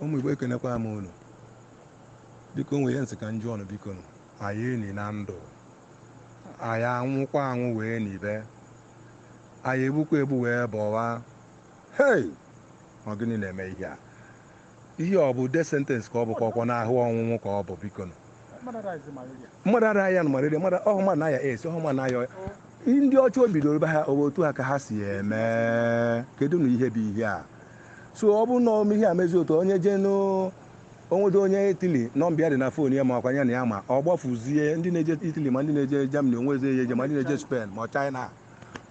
ụmụ igbo ekenekwa m unu biko nụ wee sị ka m jụọ nụ biko a ya-eni na ndụ a ya-anwụkwa anwụ wee nibe a ya-egbukwa egbu wee bọwa hei ọ gịnị na-eme ihe a Ihe ọ bụ death sentence ka ọ bụ ka ọkwa nụ ahụ ọnwụnwụ ka ọ bụ biko nụ. Mmadụ adaghị aya nụ malaria, mmadụ ọhụ mmadụ na-aya AIDS, ọhụ mmadụ na-aya ọya. Ndị ọcha o bidoro be ha ọ bụ etu a ka ha si eme. Kedu nụ ihe bụ ihe a? So ọ bụrụ na o mee ihe a mezi otu onye jee na o nwedo onye Italy nọmba ya dị na fon ya ma ọkwa ya na ya ma ọ gbafuzie ndị na-eje Italy ma ndị na-eje Germany onwezi eje ma ndị na-eje Spain ma China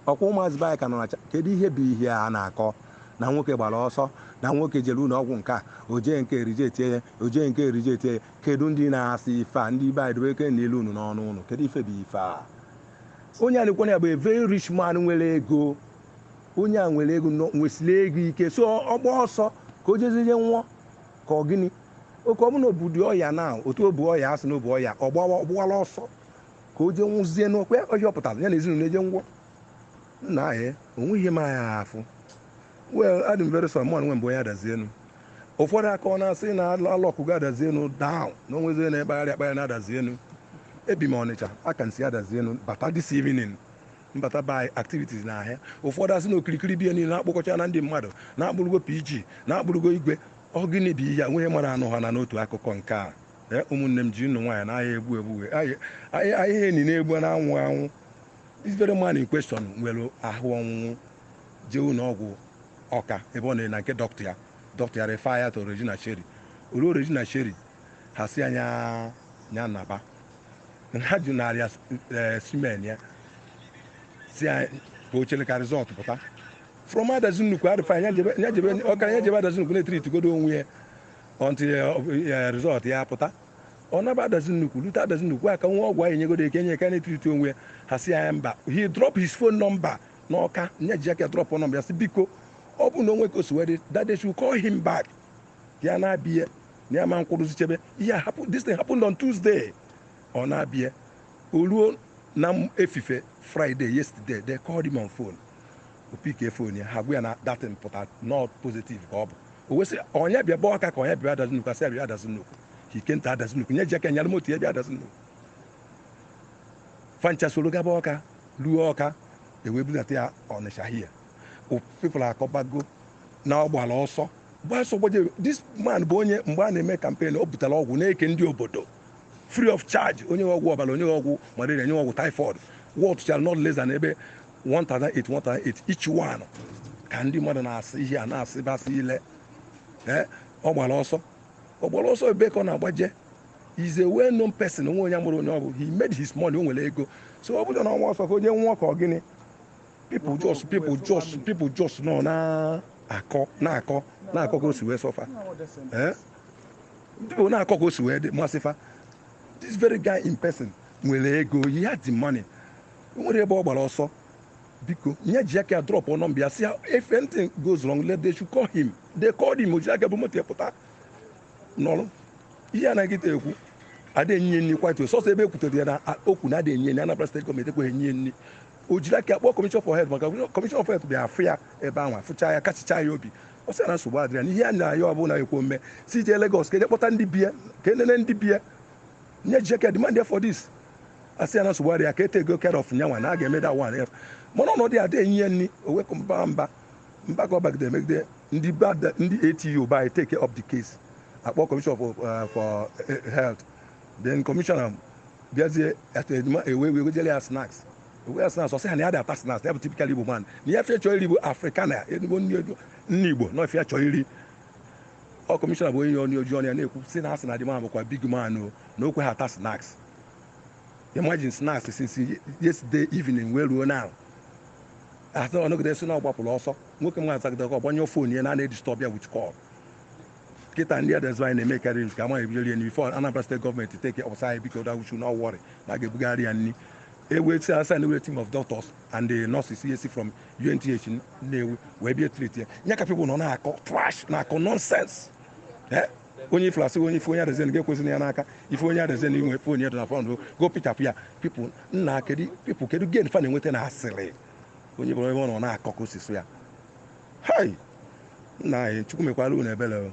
ọkwa ụmụazị be anyị ka nọ na China kedu ihe bụ ihe a na-akọ na nwoke gbara ọsọ na nwoke jere ụlọ ọgwụ nke a o jee nke a e rejectie ya o jee nke a e rejectie ya kedu ndị na-asị ife a ndị be anyị dobe eke n'ile unu n'ọnụ unu kedu ife bụ ife a onye a na-ekwu ihe ya bụ a very rich man nwere ego onye a nwere ego nọ- nwesịrị ego ike so ọ gba ọsọ ka o jezie nwụọ ka ọ gịnị okay ọ bụrụ na o budị ọya na otu o bu ọya a sị na o bu ọya ọ gbawa ọ gbawala ọsọ ka o jee nwụzie n'oke ọhịa ọ pụtara ya na ezinụlọ eje ngwọ nna ahụ o nweghị ihe ma ya afụ well adị m very sorry mụnwa bụ onye adazi enu ụfọdụ aka ọ na-asị na a lockụgo adazi enu down na o nwezi onye na-ekpagharị akpagharị na adazi enu ebi m ọnịcha aka m si adazi enu bata this evening m bata by activities na ahịa ụfọdụ asị na okirikiri be ya niile na-akpọkọcha na ndị mmadụ na a kpụrụgo pg na a kpụrụgo igwe ọ gịnị bụ ihe a nweghị mara anụ ha na n'otu akụkọ nke a ee ụmụnne m jinụ nwayọ na a ya-egbu egbu a ya-eni na-egbu na anwụ anwụ this very man in question nwere ahụ ọnwụnwụ jee ụlọ ọgwụ ọka ebe ọ na na nke dọkịta ya dọkịta ya refer ya to Regina Caeli o ruo Regina Caeli ha sị nya ya naba ha ji nara ya specimen ya sị ka o chere ka result pụta from adazi nnukwu a refer ya jebe ọkara ya jebe adazi nnukwu na-etreatigodo onwe ya until result ya apụta ọ naba adazi nnukwu lute adazi nnukwu aka nwa ọgwụ anyị nyegodo eke nye aka na-etreati onwe ya ha sị nya mba he drop his phone number n'ọka nya ji aka drop nọmba ya sị biko ọ bụ na o nwee ka o si wee dị that they should call him back ya na-abịa na ya ma-akwụrụzi chebe ihe ahụ this thing happened on Tuesday ọ naba o ruo na efife Friday yesterday they called him on phone o pikie fon ya ha gwa ya na that thing pụta not positive ka ọ bụ o wee sị ọ nya bịaba ọka ka ọ nya bịa adazi nnukwu a sị ya bịa adazi nnukwu health center adazi nnukwu nya ji aka nyara moto ya bịa adazi nnukwu fa ncha soro gaba ọka ruo ọka e wee budata ya ọnịsha here people akọbago na ọ gbara ọsọ gbaa ọsọ gbajere this man bụ onye mgbe a na-eme campaign o butere ọgwụ na-eke ndị obodo free of charge onye ọgwụ ọbara onye ọgwụ malaria onye ọgwụ typhoid wọtụchara not less than ebe 1008 1008 each one ka ndị mmadụ na-asị ihe a na-asị bụ asịrị ee ọ gbara ọsọ ọ gbara ọsọ ebee ka ọ na-agbaje is a well known person o nwe onye amarọ onye ọ bụ he made his money o nwere ego so ọ bụrụ na ọ na-agba ọsọ ka onye nwụọ ka ọ gịnị people just people just people just nọ na-akọ na-akọ na-akọ ka o si wee sọ fa ee people na-akọ ka o si wee dị masị fa this very guy in person nwere ego he had the money O nwere ebe ọ gbara ọsọ biko nya ji aka ya drọpụ nọmba ya sị ya if anything goes wrong let they should call him they called him o ji aka bu moto ya pụta nọrọ ihe anaghị kịta ekwu ada enye nri kwatu sọsọ ebe e kwutere ya na a- okwu na ada enye nri Anambra steeti gọọmenti ekweghị enye nri o jiri aka ya kpọọ commissioner for health maka commissioner for health bịa afụ ya ebe ahụ afụcha ya kasịcha ya obi ọ sị ya na nsogbu adịrị ya na ihe a na-ayọ ọbụla ekwo mme si jee Lagos ka e je kpọta ndị be ya ka e nene ndị be ya nya ji aka demand ya for this a sị ya na nsogbu adịghị ya ka e takego care of nyanwa na a ga-eme that one ya mana ọnọdụ ya adịghị enye ya nri o wee kwuo mba mba mba ka ọ bagide megide ndị be ada- ndị ATU bịa take care of the case akpọ commissioner for, uh, for eh, health then commissioner bịazie atedima e wee e wee wejele ya snacks e nye ya snacks ọ sị ha na ya adị ata snacks ya bụ typical igbo man na ife ya chọọ iri bụ africana ezigbo nri edo- nri igbo na ọ ife ya chọọ iri ọ commissioner bụ onye ya onye o ji ọnụ ya na-ekwu sị na a sị na the man bụkwa big man o na o kweghị ata snacks imagine snacks since yesterday evening wee ruo now a sị ọ nọgide sị na ọ gbapụrụ ọsọ nwoke nwa azagide call ọ gbanyụọ fon ya na a na-edistọb ya with call kịta ndị adazi anyị na-eme karị nke amaghị ebido rie nri before Anambra steeti gọọmenti take ọ sị anyị biko that we should not worry na a ga-ebugara ya nri eweti asa na ewere team of doctors and the nurses yes from UNTH Nnewi wee bịa treat ya nya ka people nọ na-akọ trash na-akọ nonsense eh? onye ifere asị onye ife onye adazen ga-ekwesị ya n'aka ife onye adazen inwe efe onye dona fọnd go pichapụ ya people nna kedu people kedu gain fa na-enweta na asịrị onye ọbụla ebe ọ nọ na-akọ ka o si sọ ya hai nna anyị chukwu mekwara unu ebere